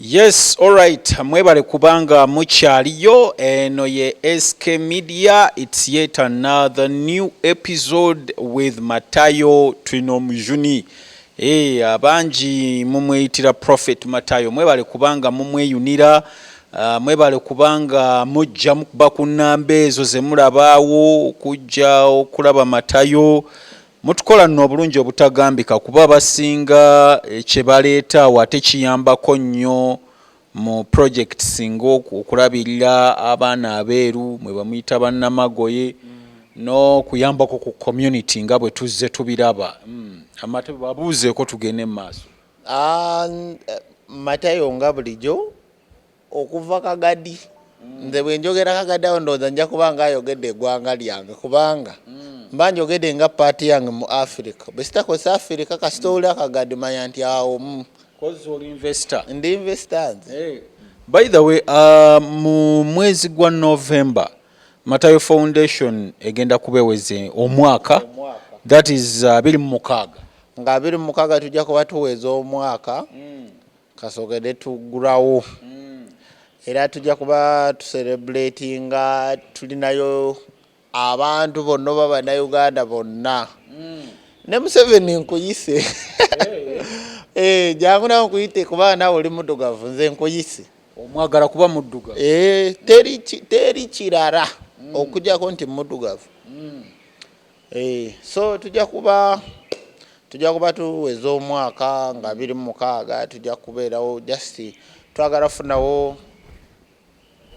Yes, alright. Mwebale kubanga mukyaliyo eno ye SK Media. It's yet another new episode with Matayo Twinomujuni. Hey, eh, abangi mumweyitira Prophet Matayo. Mwebale kubanga mumweyunira. Uh, mwebale kubanga mujja mukuba ku nnamba ezo ze mulabaawo okujja okulaba Matayo. Mutukola nno obulungi obutagambika kuba abasinga eh, kye baleeta awo ate kiyambako nnyo mu projects ng'okulabirira abaana abeeru mwe bamuyita bannamagoye n'okuyambako ku community nga bwe tuzze tubiraba hmm, amatebe babuuzeeko tugende mu maaso ah, eh, matayo nga bulijjo okuva kagadi mm. nze bwenjogera kagadi awo ndowooza nja kuba nga ayogedde egwanga lyange kubanga mm. mba njogedde nga paati yange mu africa besitakozesa africa kasita oli akagadi manya nti awo mm. ndi investor nze hey. by the way uh, mu mwezi gwa november matayo foundation egenda kubeweze omwaka that is uh, abiri mu mukaaga nga abiri mu mukaaga tujja kuba tuweza omwaka mm. Kasogede tugulawo era tujja kuba tuserebuletinga tulinayo abantu bonna oba bannayuganda bonna mm. ne museveni nkuyise eh, jangu nawe nkuyite kuba nawe oli muddugavu nze nkuyise omwagala kuba muddugavu eh, teri kirara mm. okujako nti muddugavu mm. Eh, so tujja kuba tujja kuba tuweza omwaka nga biri mu mukaaga tujja kubeerawo just twagala funawo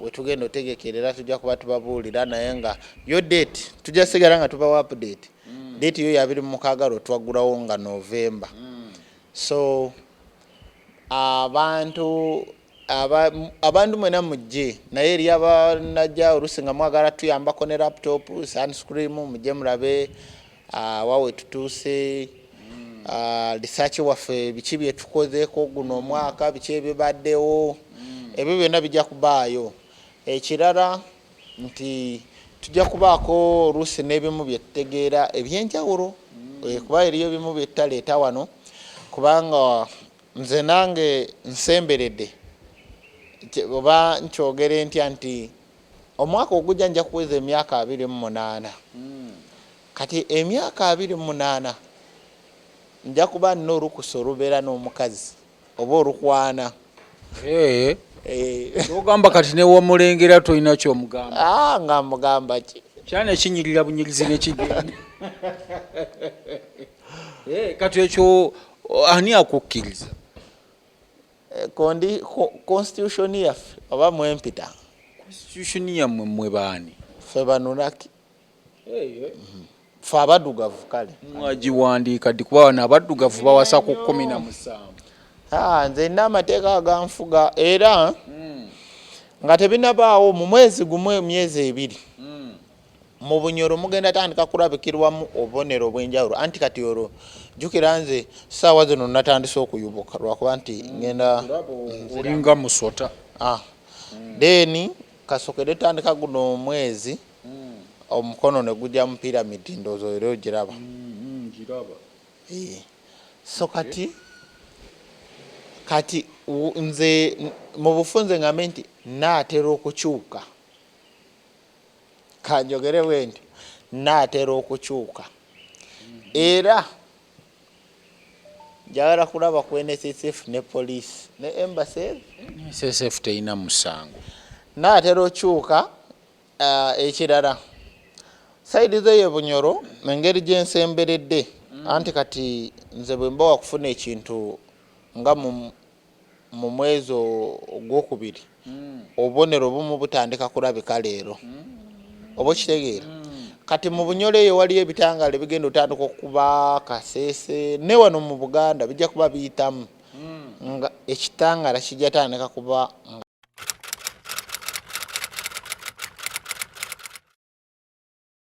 wetugenda otegekerera tujja kuba tubabuulira naye nga yo date tujja sigala nga tubawo update mm. date yo yabiri mu mukaaga lwo twaggulawo nga novemba mm. so abantu Abantu mwena mujje naye eriyo abanajja olusi nga mwagala tuyambako ne laptop, sunscream mujje mulabe wa wetutuuse, research waffe biki byetukozeko guno omwaka biki ebibaddewo ebyo byona bijja kubaayo. Ekirara nti tujja kubaako oluusi nebimu byetutegeera ebyenjawulo kuba eriyo ebimu byetutaleeta wano kubanga Nze nange nsemberede oba nkyogere ntya nti omwaka ogujja nja kuweza emyaka abiri mu munaana kati emyaka abiri mu munaana nja kuba nina olukusa olubeera n'omukazi oba olukwana kyogamba kati newomulengera tolina kyomugamba ah, nga mugamba ki kyana ekinyirira bunyirizi nekigenda eh, kati ekyo ani akukkiriza eh, kondi constitution yaffe oba mwempita constitution yamwe mwe baani fe banuraki fe abaddugavu kale mwagiwandiika ddi kuba bano abaddugavu bawasa ku kumi na musanvu ah, nze nina amateeka aganfuga era hmm. nga tebinabaawo mu mwezi gumu emyezi ebiri hmm. mu bunyoro mugenda tandika kulabikirwamu obubonero obwenjawulo anti kati olwo jukira nze saawa zino natandise okuyubuka lwakuba nti ngenda olinga musota ah. then kasokede tandika guno omwezi mm. omukono neguja mu pyramid ndozo era ogiraba mm, mm, so kati kati nze mu bufunze ngambe nti naatera okukyuka kanjogere bwenti naatera okukyuka era njagala kulaba ku nssf ne police ne embassy nssf terina musango naatera okyuka uh, ekirala saidi zo ye bunyoro mu ngeri gye nsemberedde mm. anti kati nze bwe mba wakufuna ekintu nga mu mwezi ogwokubiri obubonero obumu butandika kulabika leero oba okitegeera kati mu bunyolo eyo waliyo ebitangaala ebigenda otandika okuba kaseese ne wano mu buganda bijja kuba biyitamu nga ekitangaala kijja tandika kuba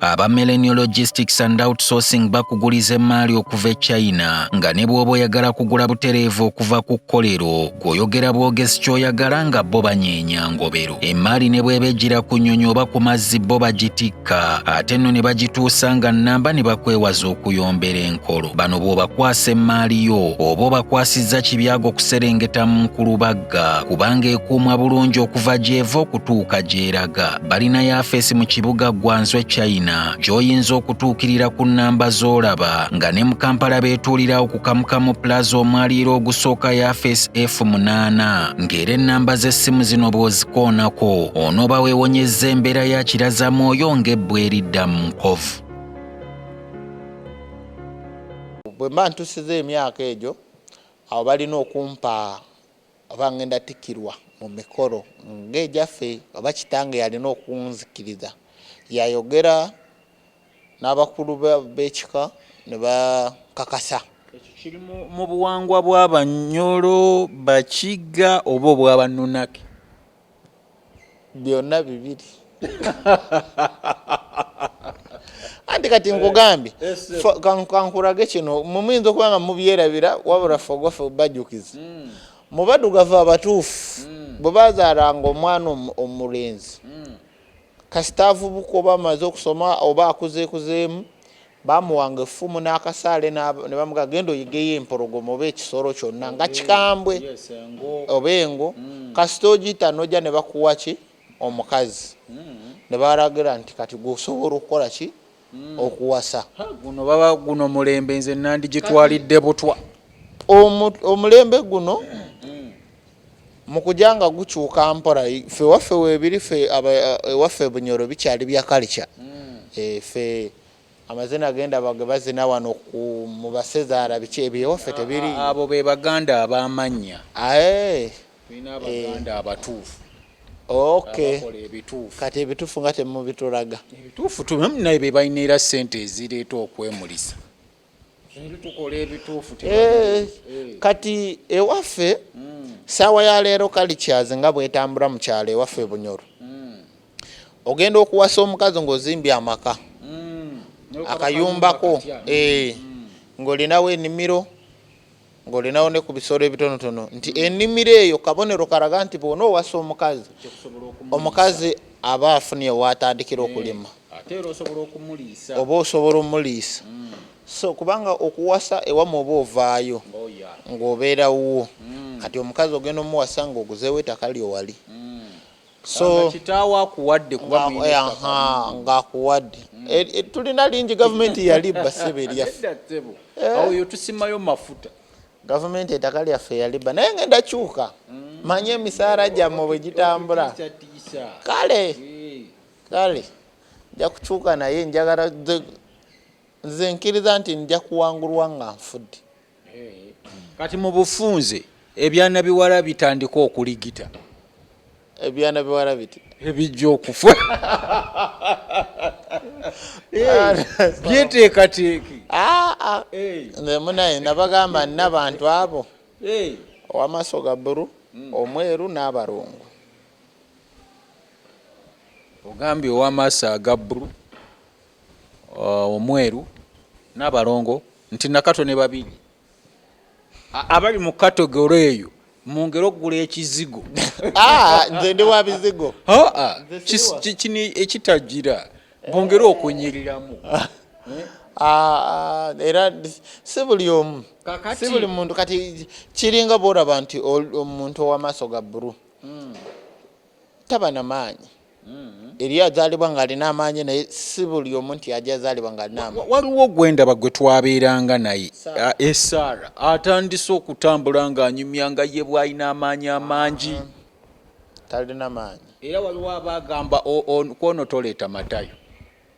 Aba Millennial Logistics and Outsourcing bakuguliza emmaali okuva e China nga ne bw'oba oyagala kugula butereevu okuva ku kkolero gw'oyogera bwogezi ky'oyagala nga bo banyeenya ngobero. Emmaali ne bw'eba ejjira ku nnyonyi oba ku mazzi bo bagitikka ate nno ne bagituusa nga nnamba ne bakwewaza okuyombera enkolo. Bano bw'obakwasa emmaali yo oba obakwasizza kibyago okuserengeta mu nkulubagga kubanga ekuumwa bulungi okuva gy'eva okutuuka gy'eraga. balina yafeesi mu kibuga ggwanzwe china gy'oyinza okutuukirira ku nnamba z'olaba nga ne mu kampala beetuulirawo ku kamukamu plaza omwaliiro ogusooka yafeesi f8 ng'era ennamba z'essimu zino bw'ozikoonako onooba weewonyezza embeera ya kirazamwoyo ng'ebbwa eridda mu nkovu bwe mba ntusiza emyaka egyo awo balina okumpa Oba ngenda tikirwa mu mikolo nga egyaffe oba kitange yalina okunzikiriza yayogera nabakulu bekika ne bakakasa. Ekyo kiri mu buwangwa bwa banyoro, bakiga oba obwa banunaki? byonna bibiri anti kati eh, nkugambye eh, kankurage kino mumuyinza okuba nga mubyerabira wabula fogofe bajukiza hmm. mu badugavu abatuufu hmm. bwe bazaalanga omwana omulenzi hmm. Kasita avubuka oba amaze okusoma oba akuzeekuzeemu, bamuwanga effumu n'akasaale ne bamugamba genda oyigeyo empologoma oba ekisolo kyonna nga kikambwe oba engo, hmm. kasita ogiyita n'ojja ne bakuwa ki omukazi hmm. ne balagira nti kati gwe osobola okukola ki hmm. okuwasa guno baba guno mulembe nze nandi gitwalidde butwa omulembe guno hmm. mukuja nga gukyuka mpora fe waffe webiri fe ewaffe bunyoro bikyali bya kalica hmm. e, fe amazina agenda bage bazina wano mu basezaala biki ebyo ewaffe tebiri abo be baganda abamanya tulina abaganda eh. abatuufu okay kati ebituufu nga temubitulaga ebituufu naye bebalina era sente ezireeta okwemulisa eh, eh. kati ewaffe hmm. saawa ya leero kalikyazi nga bwetambula mu kyalo ewaffe ebunyoro hmm. ogenda okuwasa omukazi ngaozimbye amaka hmm. akayumbako ng'olinawo enimiro ng'olinawo ne ku bisolo ebitonotono nti ennimiro eyo kabonero kalaga nti bwona owasa omukazi omukazi aba afunye waatandikira eh, okulima oba osobola omuliisa mm. so kubanga okuwasa ewama oba ovaayo oh, ng'obeera wuwo mm. kati omukazi ogenda omuwasa ng'oguzeewo etaka lyowali mm. so kitaawo akuwadde kuba ng'akuwadde mm. eh, eh, tulina lingi gavumenti yali basebe erya eh. oyo tusimayo mafuta gavumenti ettaka lyaffe yaliba naye ngenda kyuka mm. manyi emisaala gyammwe bwe gitambula kale kale nja kukyuka naye njagala Nze nkiriza nti nja kuwangulwa nga nfudde. Kati mu bufunze ebyana biwala bitandika okuligita. Ebyana biwala biti ebijja okufa byeteekateeke. Ah, ah. Nze munaye nabagamba nina bantu abo owamaaso ga buru hmm. omweru n'abalungu. Ogambye owamaaso aga buru. Omweru n'abalongo nti Nakato ne Babirye abali mu kategole eyo mwongere okugula ekizigo. Ah, nze ndi wa bizigo. Ah, kino ekitagira bongere okunyiriramu. Ah, era si buli omu si buli muntu kati kiringa bwolaba nti omuntu ow'amaaso ga bbulu hmm. taba na maanyi eriyo azaalibwa ng'alina amaanyi naye si buli omu nti ajja azaalibwa ng'alina amaanyi waliwo gwe ndaba gwe twabeeranga naye esaara eh, atandise okutambula ng'anyumya nga ye bw'alina amaanyi amangi ah, talina maanyi era waliwo aba agamba kwono toleeta matayo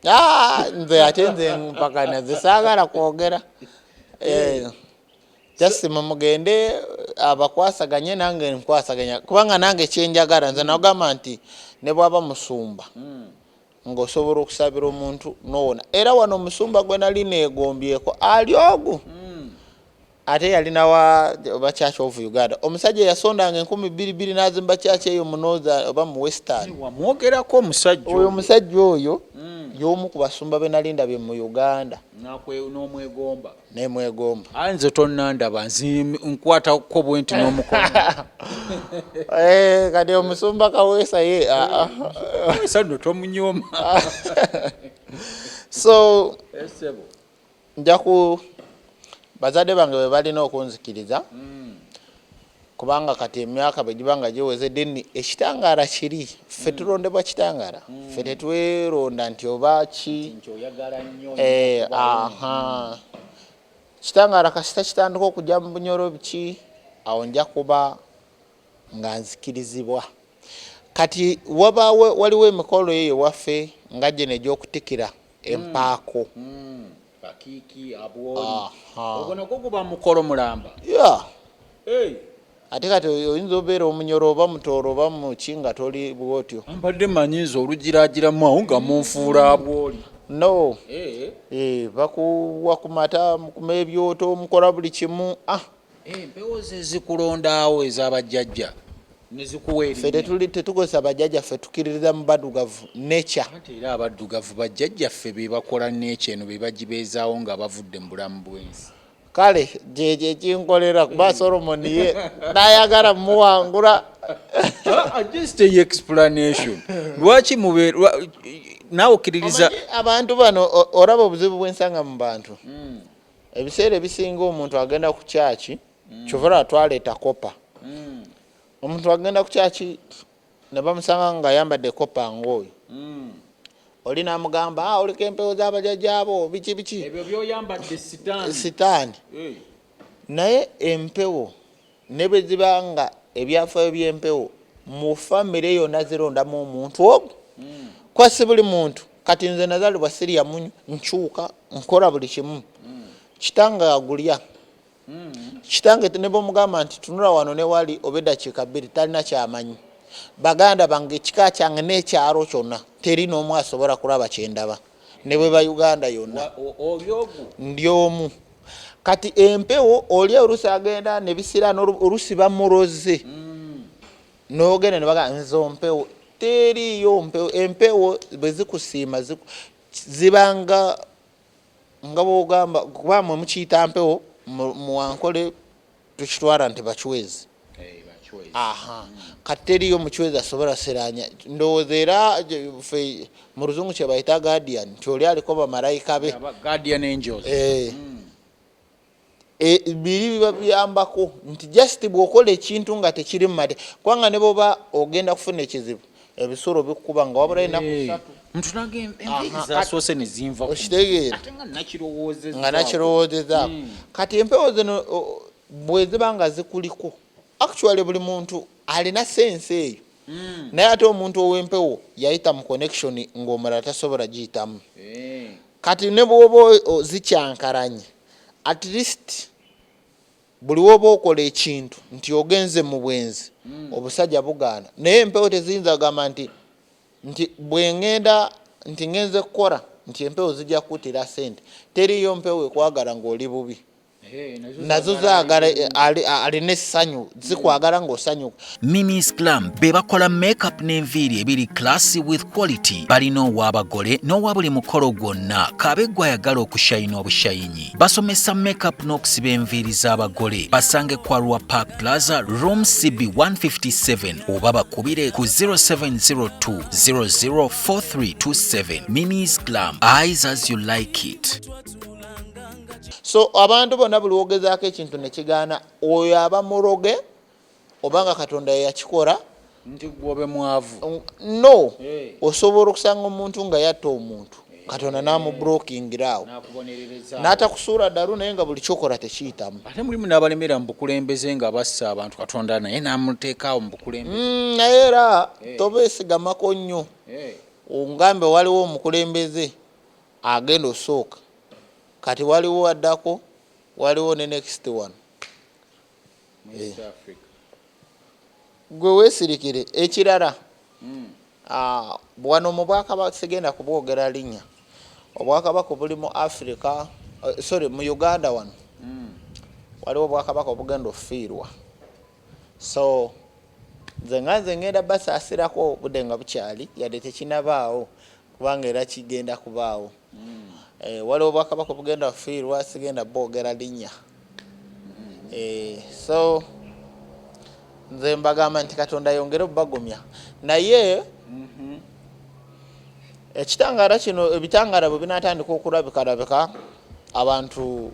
ah, nze ate nze mpakana nze saagala kwogera eh. just mumugende eh, abakwasaganye nange nkwasaganya kubanga nange kyenjagala nze nagamba nti nebwaba musumba hmm. ngaosobola okusabira omuntu nowona era wano omusumba gwe nali negombyeko ali ogu hmm. ate yalina wa oba church of uganda omusajja yasondanga enkumi bbiri bbiri nazimba church eyo munoza oba mu western wamwogerako omusajja oyo omusajja oyo hmm. yomu ku basumba benalindabye mu uganda nomwegomba nemwegomba aye nze tonandaba nkwata ko bwenti nomukono eh, kati omusumba kaweesa ye ah, ah. sano tomunyoma so eh, njaku bazadde bange bebalina okunzikiriza mm. Kubanga kati emyaka bwe giba nga giweze deni ekitangaala kiri. Ffe tulondebwa kitangaala. Ffe tetweronda nti oba ki. Eh, aha. Kitangaala kasita kitandika okujja mu bunyoro biki, awo nja kuba nga nzikirizibwa. Kati wabaawo waliwo emikolo eyo ewaffe nga gino egy'okutikira empaako. bakiki abwoli ogwo nagwo guba mukolo mulamba yeah. hey. ate kati oyinza obeera omunyoro oba mutooro oba muki nga toli bwotyo mbadde manyi nze olugiragiramu awo nga munfuula abwoli no hey. Eh. hey, eh, bakuwa ku mata mukuma ebyoto mukola buli kimu ah. empewo zezikulondaawo ezabajjajja fe tetukozesa bajjajja ffe tukiririza mu baddugavu nature era abaddugavu bajjajja ffe bebakola nature eno bebagibeezaawo nga bavudde mu bulamu bwensi kale kyekyo ekinkolera kuba solomon ye nayagala muwangula ah, just a explanation lwaki mube nawe okiririza abantu bano oraba obuzibu bwensanga mu bantu mm. ebiseera ebisinga omuntu agenda ku kyaki mm. kyovara twaleeta kopa mm. omuntu agenda ku kyaki ne bamusanga nga ayambadde kopa ngaoyo mm. oli namugamba ah, oliko empewo zabajajaabo biki biki sitaani naye empewo Ne bwe ziba nga ebyafaayo by'empewo mu famire yonna zirondamu omuntu omu, kuba si buli muntu. Kati nze nazaalibwa sirya munyu, nkyuka, nkola buli kimu. Kitange agulya. Kitange ne bw'omugamba nti tunula wano ne wali oba eddakiika bbiri talina ky'amanyi. Baganda bange, ekika kyange n'ekyalo kyonna teri n'omu asobola kulaba kye ndaba. ne bwe ba uganda yonna ndi omu kati empewo oli olusi agenda nebisirana olusi bamuroze mm. nogenda nebaga nze ompewo teriyo mpewo empewo bwezikusiima zibanga nga bwogamba kuba mwe mukiyita mpewo muwankole tukitwala nti bacwezi aha kati teriyo mucwezi asobola siranya ndowooza era fe mu luzungu kyebayita guardian nti oli aliko bamalayika be eh. hmm. eh, biri biba biyambako nti just bwokola ekintu nga tekiri mumate kubanga neboba ogenda kufuna ekizibu ebisolo bikukuba nga wabula enaku eh, satu mtu nange empeke zasoose ne zinva okitegeera ate nga nakirowoozeza nga nakirowoozeza hmm. kati empewo zino bwe ziba nga zikuliko actually buli muntu alina sense eyo hmm. naye ate omuntu ow'empewo yayita mu connection ng'omulala tasobola giyitamu eh. kati ne bwoba zikyankalanye at least Buli woba okola ekintu nti ogenze mubwenzi obusaja bugaana naye empewo teziyinza gamba nti nti bwengenda nti ngenze kukora nti empewo zija kutira sente teriyo mpewo ekwagara nga oli bubi nazo zagara alina esanyu zikwagara nga osanyuka Mimi's Glam be bakola makeup n'enviiri ebiri classy with quality. Balina ow'abagole n'owa buli mukolo gwonna kaabe gw'ayagala okushayina obushayinyi. Basomesa makeup n'okusiba enviiri z'abagole. Basange kwa Rwa Park Plaza room CB 157 oba bakubire ku 0702 004327. Mimi's Glam, eyes as you like it. So abantu bonna buli wogezaako ekintu ne kigaana oyo aba muroge oba nga katonda yeyakikora nti gwobe mwavu no eh. osobola okusanga omuntu nga yatta omuntu eh. katonda namubrokingiraawo natakusuula dalu naye nga buli kyokola tekiyitamu ate mulimu nabalemera mubukulembeze nga bassa abantu katonda naye namuteekaawo mubukulembeze mm, naye era eh. tobesigamako nnyo ongambe waliwo omukulembeze agenda osooka kati waliwo addako waliwo ne next one gwe wesirikire ekirala hmm. ah, wano mu bwakabaka sigenda kubwogera linya obwakabaka obuli mu africa eh, sorry mu uganda wano hmm. waliwo obwakabaka obugenda okufiirwa so nze nga nze ngenda basaasirako obudde nga bukyali yadde tekinabaawo kubanga era kigenda kubaawo mm. eh, waliwo bwakabaka obugenda fiirwa sigenda bwogera linnya mm. eh, so nze mbagamba nti katonda yongere obubagumya naye mm -hmm. ekitangaala kino ebitangaala bwe binatandika okulabikalabika abantu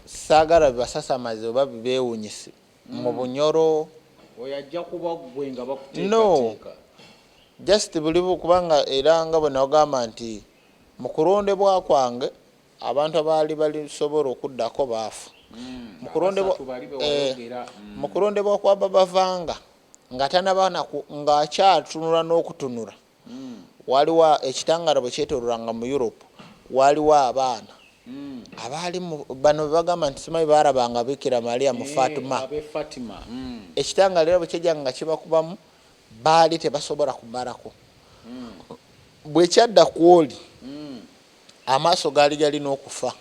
saagala bibasasamaze oba bibeewunyise mm. mu bunyoro no just buli kubanga era nga bwe nagamba nti Mu kulondebwa kwange, abantu abaali balisobola okuddako baafa. Mu kulondebwa, mu kulondebwa kwa Baba Vanga, nga tanaba na ku, nga akyatunula n'okutunula, waaliwo, ekitangaala bwe kyetoololanga mu Europe, waaliwo abaana abaali mu, bano be bagamba nti simanyi baalabanga Bikira Maria mu Fatima. Ekitangaala era bwe kyajjanga nga kibakubamu, Baali tebasobola kumalako. Bwe kyadda ku oli, amaaso gaali galina okufa.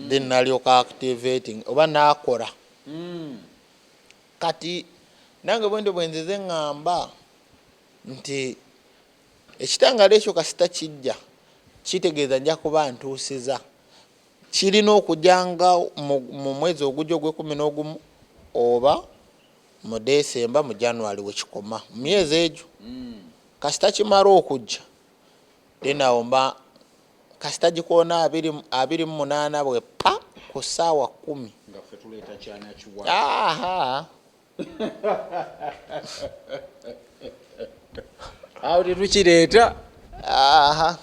Then nalyoka activating oba nakola. Kati nange bwentyo bwenzize ngamba nti ekitangala ekyo kasita kijja kitegeeza nja kuba ntuusiza. Kirina okuja nga mu mwezi ogugya ogwekumi nogumu oba. mu December mu January wekikoma mu myezi egyo kasita kimara okujja then awo mba kasita gikoona abiri abiri mu munaana bwe pa ku ssaawa kkumi aha awo tetukireeta aha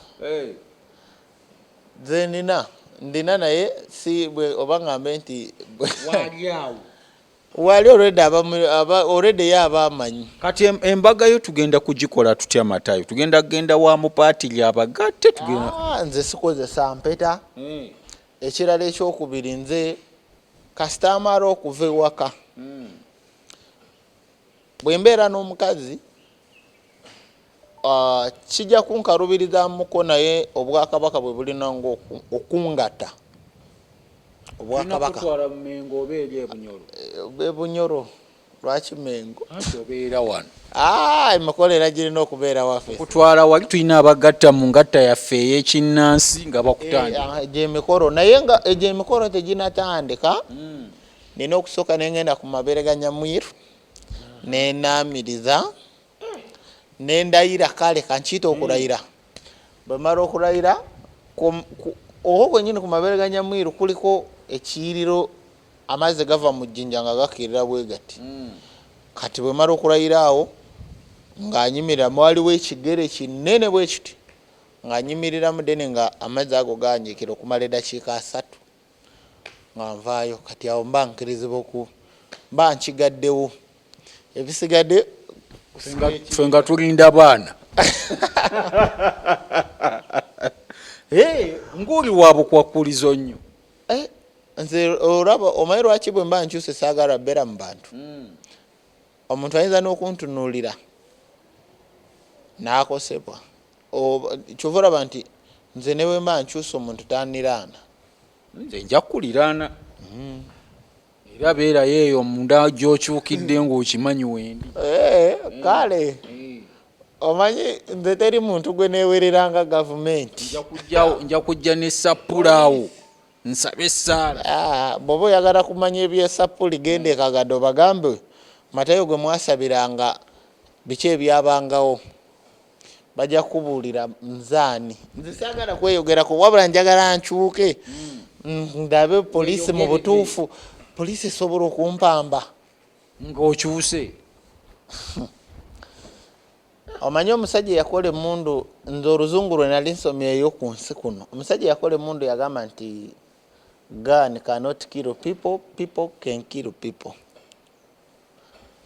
nze nina ndina naye si bwe oba ngambe nti bwe Waali awo. Wali already aba aba already ya abamanyi. Kati em- embaga yo tugenda kugikola tutya matayo tugenda genda wa mupaati lyabagatte tugenda Ah, nze sikozesa mpeta ekirala ekyokubiri nze kasita amala okuva ewaka bwembeera n'omukazi Ah, kijja kunkalubirizamuko naye obwakabaka bwe bulina nga okungata obwakabaka bebunyoro eh, lwaki mengo obeera wano ah, emikolo era girina okubeera waffe kutwala wali tulina abagatta mu ngatta yaffe eyekinnansi nga bakutandika eh, ah, egyemikolo naye nga egyemikolo teginatandika hmm. nina okusooka nengenda ku mabeere ga nyamwiru ne naamiriza ne ndayira kale kankiyita okulayira bwe mala okulayira okwo kwennyini ku mabeere ga nyamwiru kuliko ekiyiriro amazzi gava mu jjinja nga gakirira bwe gati mm. kati bwe mala okulayira awo ng'anyimirira mwaliwo ekigere kinene bwe kiti ng'anyimiriramu dene nga amazzi ago ganjikira okumala eddakiika asatu nga nvaayo kati awo mba nkirizibwa oku mba nkigaddewo ebisigade fe nga tulinda baana nguli wabukwakkulizo nnyo eh, nze olaba omanyi lwaki bwe mba nkyuse saagala bbeera mu bantu hmm. omuntu ayinza n'okuntunuulira n'akosebwa Oh, kyova olaba nti nze newemba nkyusa omuntu taniraana. Nze nja kuliraana. Mm. Era beerayo eyo munda gyokyukidde ng'okimanyi wendi. Eh, kale. Mm. omanyi nze teri muntu gwe newereranga gavumenti nja kujja ne sapulaawo nsabe esaala ah, bwoba oyagala kumanya ebyesapuli genda ekagado bagambe matayo gwe mwasabiranga biki ebyabangawo Bajja kukubuulira nze ani. Nze saagala kweyogerako wabula njagala nkyuke mm, ndabe poliisi mu butuufu poliisi esobola okumpamba ng'okyuse omanyi omusajja eyakola emundu nze oluzungu lwe nali nsomyeyo ku nsi kuno omusajja eyakola emundu yagamba nti gun cannot kill people people can kill people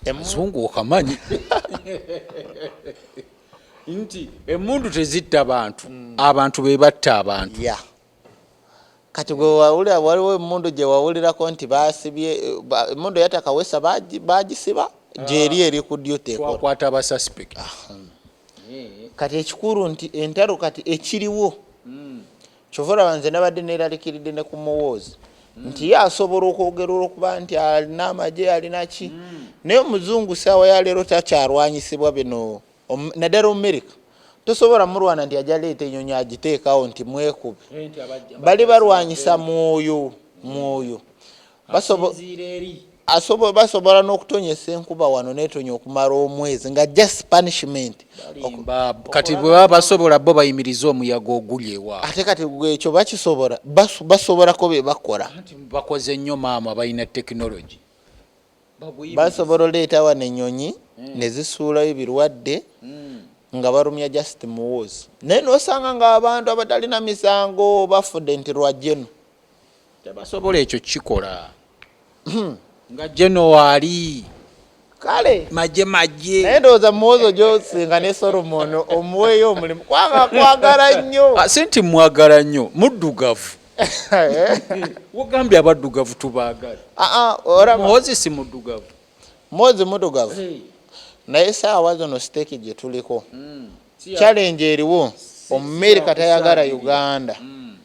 emuzungu okamanyi nti emundu tezitta bantu mm. abantu bebatta abantu yeah. kati gwewawulira waliwo emundu gyewawulirako nti basibye emundu yatakawesa bagisiba ah. gyeri eri ku dutwakwata abasuspect ah, hmm. kati ekikulu nti entalo kati ekiriwo mm. Kyova olaba nze nabadde neralikiridde ne ku muwoozi mm. nti ye asobola okwogera olwokuba nti alina amagye alina ki mm. naye omuzungu saawa ya leero takyalwanyisibwa bino naddala omumerika tosobola mulwana nti aja leeta enyonyi agiteekawo nti mwekube eh, bali balwanyisa mwoyo mwoyo basobola n'okutonyesa enkuba wano netonya okumala omwezi nga just punishment kati bwebaba basobola bo bayimiriza omuyaga oguli ewa ate kati ekyo bakisobola basobolako bebakola bakoze nnyo maama balina tekinologi basobola oleeta wano enyonyi hmm. nezisuulayo ebirwadde hmm. nga balumya just muwoozi naye nosanga nga abantu abatalina misango bafudde nti lwajeno tebasobola ekyo kikola nga january kale maje maje naye ndowooza muwozo gyosinga ne solomon omuweeyo omulimu kwanga kwagala nnyo ah, si nti mwagala nnyo muddugavu wogambye abaddugavu tubaagala ah, ah, muhozi si muddugavu muhozi muddugavu naye saawa zino siteeki gye tuliko hmm. challenge eriwo omumerika tayagala uganda mm.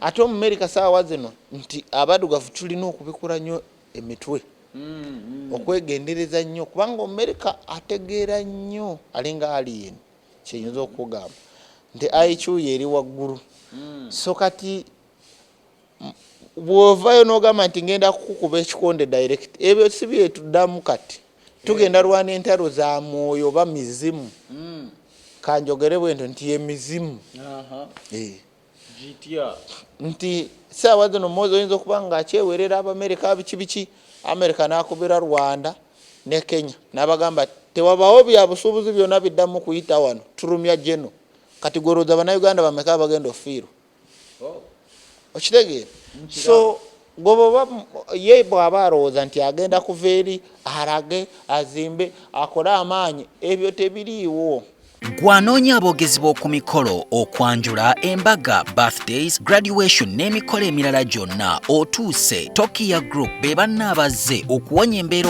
ate omumerika saawa zino nti abadugavu tulina okubikula nnyo emitwe mm, mm. okwegendereza nnyo kubanga omumerika ategeera nnyo alinga alien kyeyinza okugamba nti aikyuyo eri waggulu so kati bwovayo nogamba nti ngenda kukukuba ekikonde direct ebyo si byetuddamu kati tugenda eh. lwana entalo za mwoyo oba mizimu hmm. kanjogere bwento nti yemizimu eh. nti saawa zino mozi oyinza okuba nga akyewerera abamerika biki biki amerika nakubira rwanda ne kenya nabagamba tewabawo byabusuubuzi byona biddamu kuyita wano tulumya jeno kati gweroza banauganda bameka abagenda ofiirwa oh. okitegeera so gwoboba ye bwaba alowooza nti agenda kuva eri alage azimbe akole amaanyi ebyo tebiriiwo gwanoonya aboogezi b'oku mikolo okwanjula embaga birthdays graduation n'emikolo emirala gyonna otuuse tokiya group be banna abazze okuwonya embeera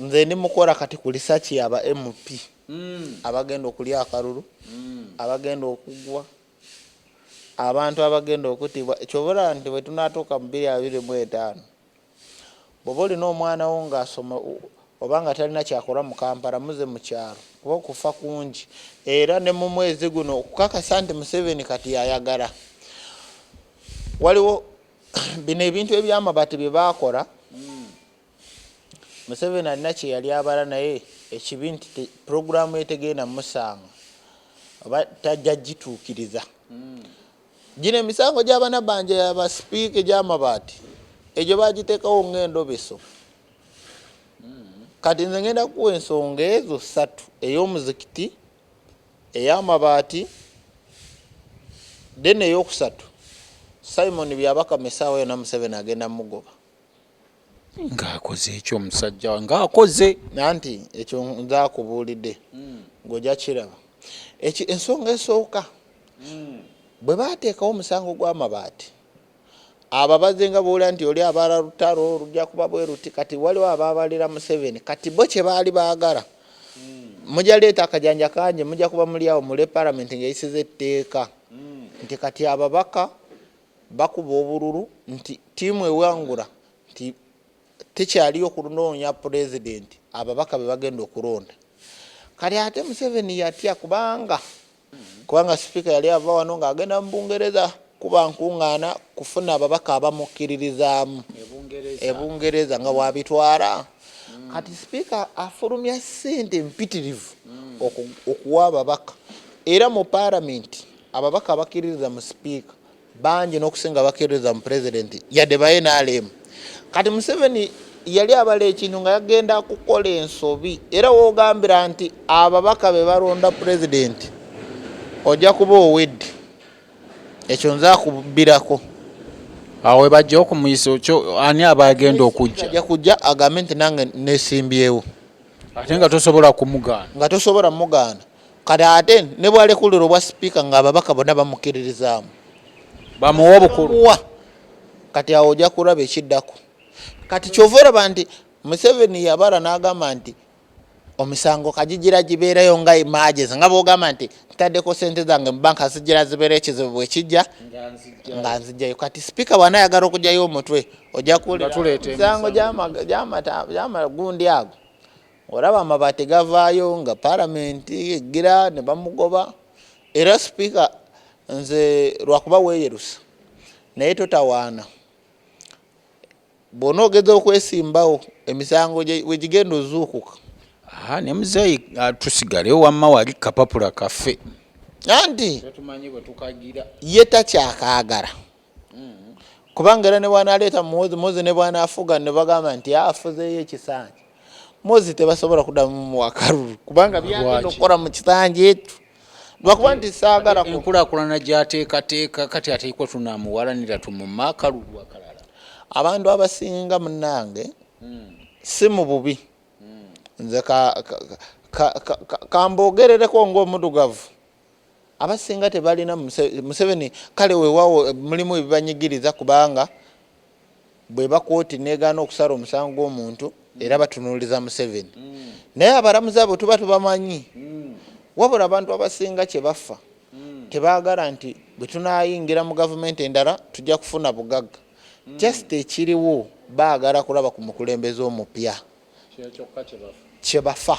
Nze ndi mukola kati ku research ya ba MP mm. abagenda okulya akalulu mm. abagenda okugwa abantu abagenda okutibwa ekyobulaba nti bwetunatuuka mu biri abiri mu etaano bwoba olina omwana wo ngaasoma oba nga talina kyakola mu kampala muze mu kyalo kuba okufa kungi era ne mu mwezi guno okukakasa nti museveni kati yayagala waliwo bino ebintu ebyamabati bye baakola Museveni alina kyeyali abala naye ekibi nti te, program ye tegenda musanga oba tajja gituukiriza mm. gino emisango gyabanabanja yabasipiika egyamabaati egyo bagiteekawo ngaendobeso mm. kati nze ngenda kuwa ensonga ezo satu ey'omuzikiti ey'amabaati then eyokusatu simon byabakamesaawo yona museveni agenda mugoba ng'akoze ekyo omusajja wa ng'akoze nanti ekyo nze akubuulidde hmm. ng'ojja kiraba ekyo ensonga esooka hmm. bwe baateekawo omusango gw'amabaati ababaze nga boola nti oli abaala lutalo olujja kuba bwe luti kati waliwo abaabalira museveni kati bo kye baali baagala hmm. mujja leeta akajanja kangi mujja kuba muli awo mule palamenti ng'eyisiza etteeka nti kati ababaka Bakuba obululu nti ttiimu ewangula nti tekyaliyo kunoonya Pulezidenti, ababaka be bagenda okulonda. Kati ate Museveni yatya kubanga kubanga sipiika yali ava wano ng'agenda mu Bungereza kuba nkuŋŋaana kufuna ababaka abamukkiririzaamu e Bungereza nga waabitwala. Mm. Kati sipiika afulumya ssente mpitirivu mm. okuwa ababaka era mu paalamenti Ababaka abakiririza mu sipiika bangi n'okusinga abakiririza mu pulezidenti yadde ba nrm. Kati Museveni yali abala ekintu nga yagenda kukola ensobi era wogambira nti ababaka be balonda pulezidenti ojja kuba owedde ekyo nze akubbirako awo webajja okumuyisa okyo ani aba agenda okujja ajja kujja agambe nti nange nesimbyewo ate nga tosobola kumugaana nga tosobola mugaana Kati ate ne bwalekulira obwa sipiika nga ababaka bonna bamukiririzaamu bamuwa obukulu wa kati awo ojja kulaba ekiddako kati kyova olaba nti museveni yabala n'agamba nti omisango kajigira gibeereyo nga emagezi nga bwogamba nti ntaddeko sente zange mu banka zigira zibeera ekizibu bwekijja nga nzijjayo kati sipiika bwana ayagala okugyayo omutwe ojja kuwulira misango gyamagundi ago Olaba amabaati gavaayo nga palamenti eggira ne bamugoba era sipiika nze lwakuba weeyerusa naye totawaana bwona ogeza okwesimbawo emisango we gigenda ozuukuka aha ne muzeeyi ah, tusigale wamma wali kapapula kaffe anti ye takyakaagala kubanga era nebwanaleeta muwozi muwozi nebwanafuga nebagamba nti afuzeeyo ekisanja muwozi tebasobola kudamu muwakalulu kubanga byagenda okukola mu kisanja ekyo lwakuba nti saagala enkulakulana gyateekateeka kati ateekwa tunamuwalanira tumumakalulu akalala abantu abasinga munange hmm. si mu bubi hmm. nze kambogerereko ngaomudugavu Abasinga tebalina Museveni kale wewawo mulimu ebibanyigiriza kubanga bweba kooti negaana okusala omusango gwomuntu era batunuliza Museveni mm. naye abalamuzi abo tuba tubamanyi mm. wabula abantu abasinga kyebaffa mm. tebagala nti bwetunayingira mu gavumenti endala tujja kufuna bugagga mm. just ekiriwo bagala kulaba ku mukulembeze omupya kyebafa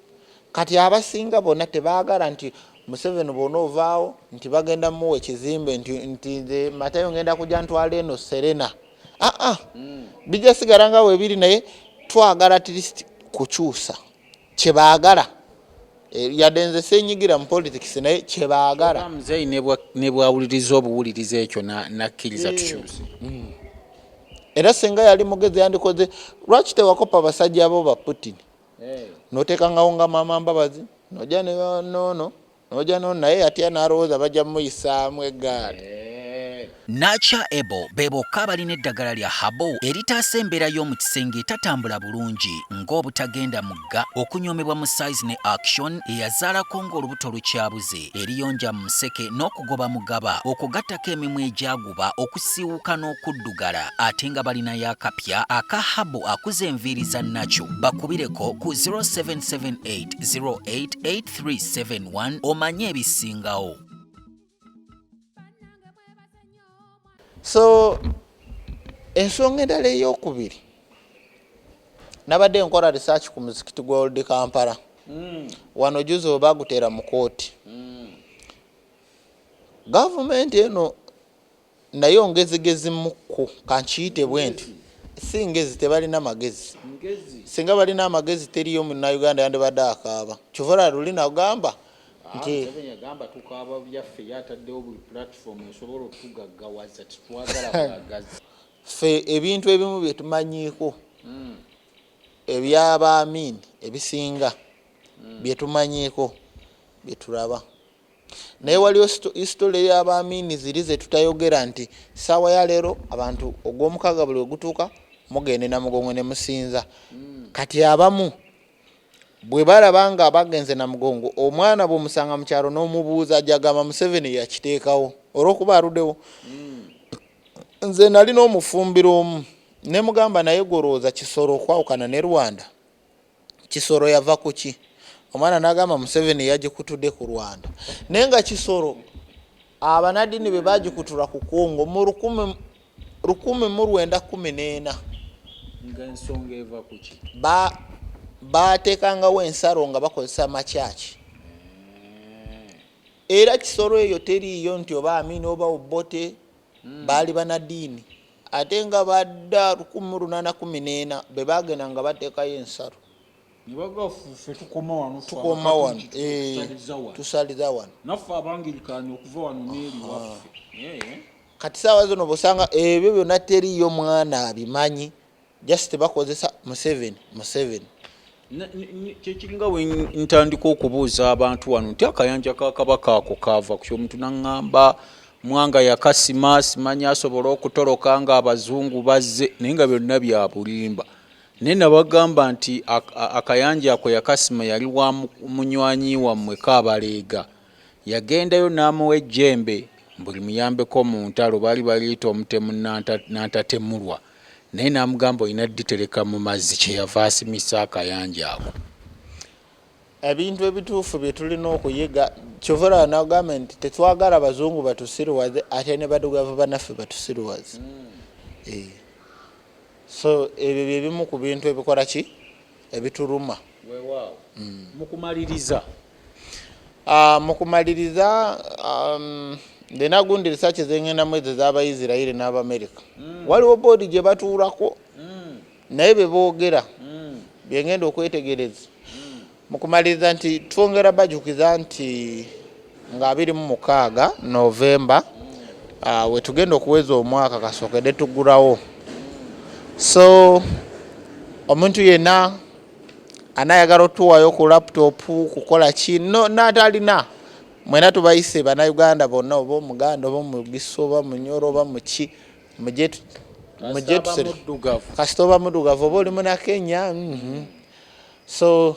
kati abasinga bona tebagala nti museveni bona ovaawo nti bagenda muwa ekizimbe nti nze matayo ngenda kuja ntwala eno serena aa ah, ah. mm. bija sigala nga webiri naye twagala atlist kukyusa kyebagala eh, yadde nze senyigira mu politics naye kyebagala mzei nebwawuliriza obuwuliriza ekyo nakkiriza eh. tukyuse mm. era singa yali mugezi yandikoze lwaki tewakopa abasajja abo ba putin notekangawo nga mama mbabazi noja nono noja nono naye atya nalowooza baja muyisaamu egaali eh. Nacha Ebo be bokka abalina eddagala lya Habo eritaasa embeera y'omu kisenge etatambula bulungi ng'obutagenda mugga, okunyoomebwa mu size ne action eyazaalako ng'olubuto lukyabuze, eriyonja mu museke n'okugoba mugaba okwo gattako emimwa egyagwa bakuba okusiiwuka n'okuddugala ate nga balinayo akapya aka habu akuza enviiri za nakyo bakubireko ku 0778088371 omanye ebisingawo so ensonga endala eyokubiri nabadde nkola research ku muzikiti gwa old kampala mm. wano juzi oba gutera mu kooti mm. Gavumenti eno nayo ngezigezi mukku kankiyite bwenti si ngezi tebalina magezi singa balina amagezi teriyo munauganda yandibadde akaaba kyovola luli nagamba nti agamba tukaaba byaffe yataddewo buli platform esobola otugaggawaza titwagala bwagazi ffe ebintu ebimu byetumanyiiko hmm. ebyaba amin ebisinga hmm. byetumanyiiko byeturaba naye waliwo isitole ya bamiini ziri zetutayogera nti saawa ya leero abantu ogwomukaga buli wegutuuka mugende namugongo ne musinza hmm. kati abamu bwe balaba nga bagenze namugongo omwana bwomusanga mu kyalo n'omubuuza ajagamba museveni yakiteekawo olwokuba aludewo hmm. nze nali n'omufumbiro omu nemugamba naye golowooza kisolo okwawukana ne rwanda Kisoro yava kuki omwana nagamba museveni yagikutude ku rwanda naye nga kisoro abanadini bebagikutura ku congo mu lukumi mu rwenda kumi nena batekangawo ensaro nga bakozesa makyaki era kisoro eyo teriiyo nti oba amini oba obote hmm. baali banadiini ate nga ba dda lukumu lunana kumi neena bebagenda nga batekayo ensalo tukoma wano eh, tusaliza wano kati saawa zino bosanga ebyo byona teriyo mwana abimanyi Just bakozesa Museveni Museveni. Kyekiringa wentandika okubuuza abantu wano nti akayanja ka kabaka ako kaava ku kyomuntu naŋŋamba mwanga yakasima simanyi asobole okutoloka nga abazungu bazze naye nga byonna bya bulimba naye nabagamba nti akayanja ako yakasima yali wa munywanyi wammwe kaabaleega Yagendayo n'amuwa ejjembe mbu limuyambeko mu ntalo, baali baliyita omutemu Nanta Nantatemulwa, naye n'amugamba olina ditereka mu mazzi, kye yava asimisa akayanja ako. Ebintu ebituufu bye tulina okuyiga, kyova olaba nagambye nti tetwagala bazungu batusiruwaze ate ne badugavu banaffe batusiruwaze. Eeh. So ebyo bye bimu ku bintu ebikola ki? Ebituluma. Wewaawo. Mu kumaliriza. Ah, mu kumaliriza um, ndina gundi risaaki zengendamu ezo ez'abaisirairi n'abamerika mm. waliwo boodi gye batuulako mm. naye be boogera mm. byengenda okwetegereza mu kumaliriza nti twongera bajukiza nti nga abiri mu mukaaga novemba ah, we tugenda okuweza omwaka kasookede tugulawo so omuntu yenna anayagala otuwayo ku laptop kukola ki no natalina mwena tubayise bana Uganda bonna oba omuganda oba mugisu oba munyoro oba muki muje muje tusere kasita oba mudugavu oba oli muna Kenya mm -hmm. so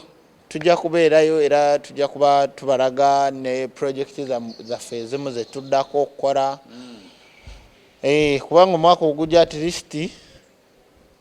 tujja kubeerayo era tujja kuba tubalaga ne project zaffe ezimu zetuddako okukola mm. eh, kubanga omwaka ogujja at least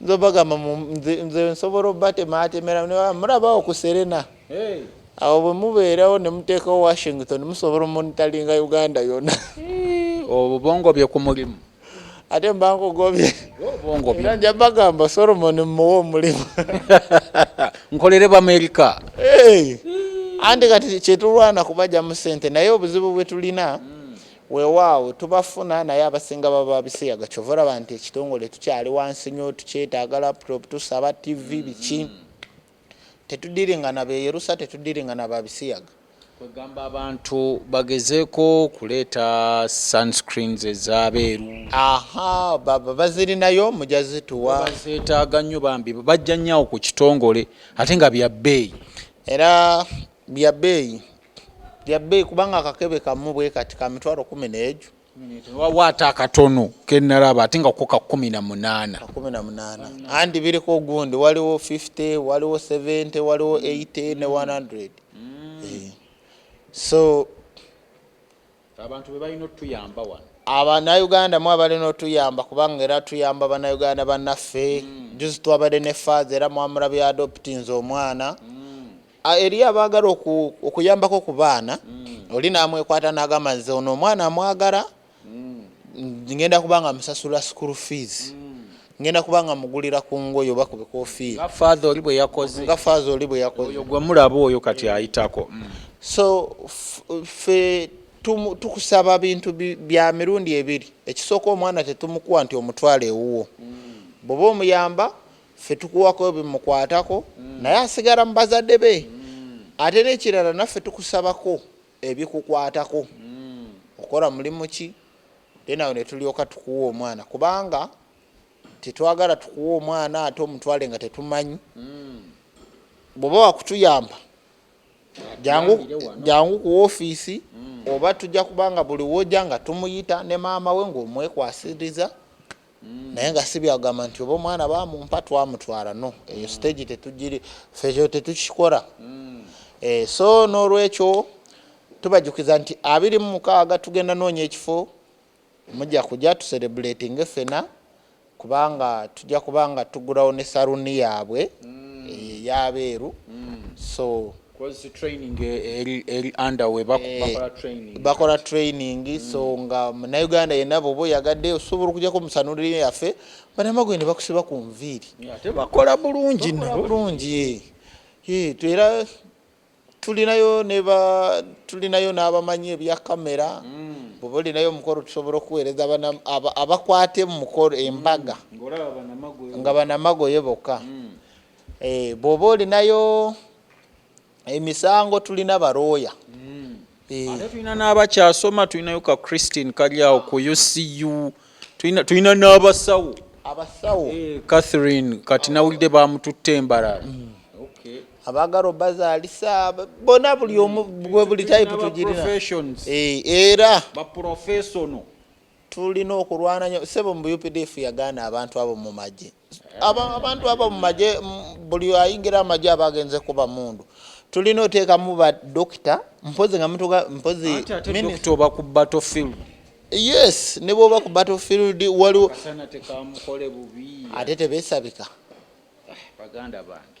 nze bagamba nze nsobola obatematemera mulabawo ku serena awo bwe mubeerawo ne muteekawo washington musobola omonitalinga uganda yona obubongo bye ku mulimu ate mbangogobye era nja bagamba solomon mmuwa omulimu nkolere bamerika anti kati kyetulwana kubajja mu sente naye obuzibu bwe tulina mm. Wewaawo tubafuna naye abasinga baba babisiyaga kyova olaba nti ekitongole tukyali wansi nyoo tukyetaaga laptop tusaba TV biki tetudiringa nabeyerusa tetudiringa nababisiyaga. Kwegamba abantu bagezeko kuleeta sun screens ezabeeru. Ahaa baba bazirinayo muja zituwa. Bazetaaga nnyo bambi bajja nnyo awo ku kitongole ate nga bya bbeeyi. Era Bya bbeeyi bya bbeeyi kubanga akakebe kamu bwe kati ka mitwalo kumi n'eju. Waliwo ate akatono ke nnalaba ate nga ko ka kumi na munaana. kumi na munaana andi biriko ogundi waliwo 50 waliwo 70 waliwo 80 ne 100 eh, so abantu bebalina otuyamba wano abanauganda mu abalina otuyamba kubanga era tuyamba banauganda banaffe mm. juzi twabadde ne faaza era mwamula bya adoptinze omwana mm. eri abagala okuyambako ku baana mm. oli namwekwata nagamba nze ono omwana amwagala mm. ngenda kubanga musasula school fees mm. Ngenda kuba nga mugulira ku ngoye oba ku bikofiira. Nga Father oli bwe yakoze. Nga Father oli bwe yakoze. Oyo gwe mulaba oyo kati ayitako. So ffe tukusaba bintu bya mirundi ebiri. Ekisooka omwana tetumukuwa nti omutwala ewuwo. Bw'oba omuyamba ffe tukuwako ebimukwatako naye asigala mu bazadde be. Ate n'ekirala naffe tukusabako. ebikukwatako okola mulimu ki then awo netulyoka tukuwa omwana kubanga tetwagala tukuwa omwana ate omutwale nga tetumanyi bwoba wakutuyamba jangu jangu ku ofiisi oba tujja kubanga buli woja nga tumuyita ne maama we ngaomwekwasiriza naye nga sibyagamba nti oba omwana bamumpa twamutwala no eyo mm. stage tetugiri fejo tetukikora mm. eh, so nolwekyo tubajukiza nti abiri mu mukaaga tugenda noonya ekifo mujja kuja tuserebulatinge fena kubanga tujja kubanga tugulawo ne saruni yaabwe mm. eh, yabeeru so bakola training mm. so nga munauganda yena boba oyagadde osobola okujako musanulire yaffe banamagwe ne bakusiba ku nviiri tebakola bulungi bulungi era tulinayo neba tulinayo n'abamanyi ebya kamera mm. bwoba olinayo omukolo tusobola okuweereza abakwate mu mukolo embaga mm. nga banamagoye bokka Eh, bwoba olinayo emisango tulina barooya hmm. eh. ate tulina n'abakyasoma tulinayo ka christine kalyawo ku ucu tulina n'abasawo abasawo eh, catherine kati nawulidde bamututte embarara hmm. abagala obazaalisa bona buli omu buli type tugirina era tulina okulwana nyo sebo mu updf yagaana abantu abo mu magye abantu abo mumaje buli ayingira amaje aba agenze kuba mundu tulina oteekamu ba dokita mpozi nga mutuka mpozi oba ku battlefield yes ne bwoba ku battlefield waliwo ate tebesabika ah, baganda bange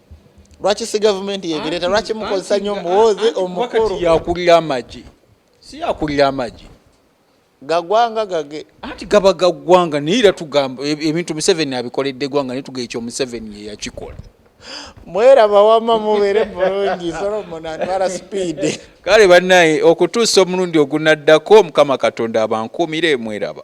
lwaki si gavumenti yebireta lwaki mukozesa nyo muwozi omukulu yakulira amagi si yakulira amagi gagwanga gage anti gaba gagwanga naye era tugamba e- ebintu museveni abikoledde gwanga naye tuga ekyo museveni yeyakikola mwera bawama mubere bulungi solomon atwala sipiidi kale bannaye okutuusa omulundi ogunaddako mukama katonda abankuumire mweraba